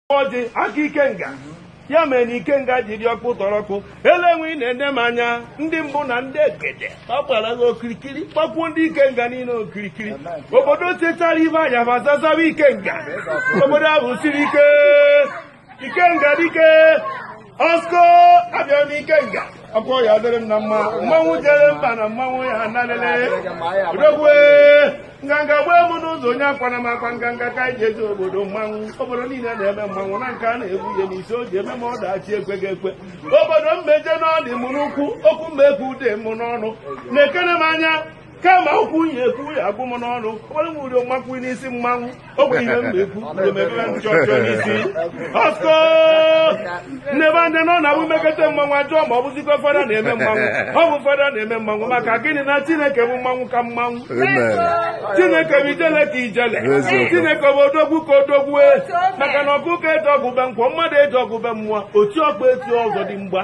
o ji aka ikenga ya mere na ikenga ji dị ọkụ tọrọkụ elenwe ị na-ene m anya ndị mbụ na ndị egede ọ gbara gị okirikiri gbakwuo ndị ikenga niile okirikiri obodo tetara ibe anya ma zazaba ikenga obodo ahụ siri ike ikenga dike Osko abịa n'ikenga ọkwa ya dịrị m na mma mmanwụ jere mba na mmanwụ ya nanịle odogwu e nganga gbue m n'ụzọ onye akwana m akwa nganga ka anyị ji eje obodo mmanwụ obodo niile na-eme mmanwụ na nke a na-egbu ihe n'isi o ji eme ma ọ dachi ekweghị ekwe obodo m ma-eje na ọ dị m n'ụkwụ okwu m ma-ekwu ọ dị m n'ọnụ nekene m anya kama okwu m ya-ekwu ya agwụ m n'ọnụ ọgbara m uri ọmakwu n'isi mmanwụ ọ bụ ihe m na-ekwu emebere m chọchọ n'isi ọsko n'ebe ndị nọ na wumekete mmanwụ ajụọ ma ọ bụzikwa fada na-eme mmanwụ ọ bụ fada na-eme mmanwụ maka gịnị na chineke bụ mmanwụ ka mmanwụ chineke bụ ijele ka ijele chineke bụ odogwu ka odogwu e. maka na ọkụkọ eje ọgụ be nkwọ mmadụ eje ọgụ be mmụọ oti ọkpọ eti ọzọdimgba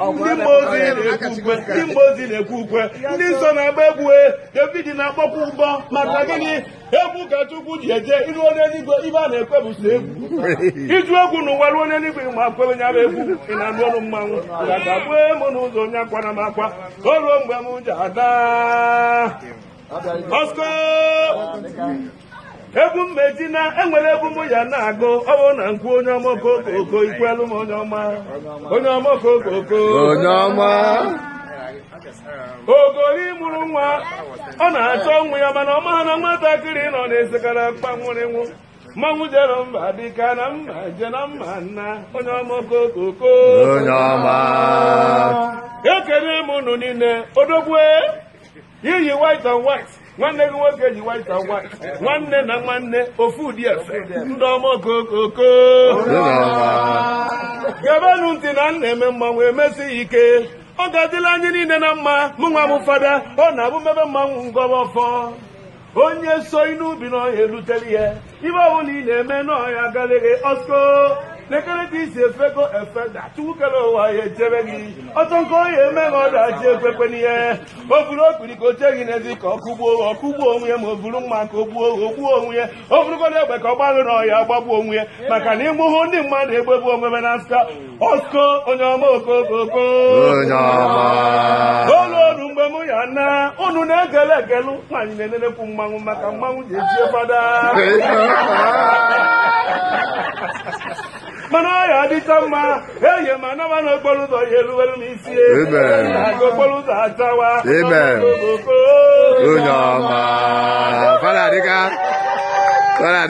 ndị mmụọ ozi na-ekwe ukwe ndị mmụọ ozi na-ekwe ukwe ndị nsọ na-agba egwu e, david na-akpọkwa ụbọ maka gịnị egwu ka chukwu ji eje i ruo n'eluigwe ihe a na-ekwe bụ sọ egwu ị jụ egwu n'ụwa ruo n'eluigwe ma kwebe nya bụ egwu ị na-anụ olu mmanwụ nganga gbue m n'ụzọ onye akwana m akwa o ruo mgbe m ji ada ọskọ egwu mmeji na enwere egwu mụ ya na-agụ ọ bụrụ na m kwuo onye ọma okokoko i kwelu m onye ọma onye ọma okokoko onye ọma ogori mụrụ nwa ọ na-achọ nwa ya mana ọ ma na nwatakịrị nọ na-esekara akpa nwụrụ nwụ mmanwụ jere mba dịka na mma je na mma nna onye ọma okokoko onye ọma ekele m unu niile odogwu e i yi white and white nwanne gị nwoke yi white and white nwanne na nwanne ofu ụdị efe ndị ọma okokoko gebenụ ntị na m na-eme mmanwụ emesi ya ike ọ ga-adịlị anyị niile na mma mụ nwa m fada ọ na-abụ m mebe mmanwụ m gọba ọfọ onye so n'ubi na ọ ya-elutere ihe ihe ọbụla ị na-eme na ọ ya-agalị gị ọsko lekere ka isi efego efeda chukwu kere ụwa ya echebe gị ọtọ nke onye emeghị ọdachi ekwekwe n'ihe o buru okpiri ka o chee gị n'ezi ka ọ kụgbuo gị ọ kụgbuo onwe ya ma o buru mma ka o gbuo gị o gbuo onwe ya o burukwanụ egbe ka ọ gbalụ na ọ ya-agbagbu onwe ya maka na ịmụhụ ndị mmadụ egbegbu onwe na nska Osko onye ọma okokoko onye ọma o luo nụ mgbe mụ ya na unu na-egele egelu ka anyị na-enenekwu mmanwụ maka mmanwụ ji eji fada mana ọ ya adịcha mma eye m naba na okporo ụzọ ya eruwere m isi Amen. aga okporo ụzọ achawa Amen. Okokoko. onye ọma fada dịka fada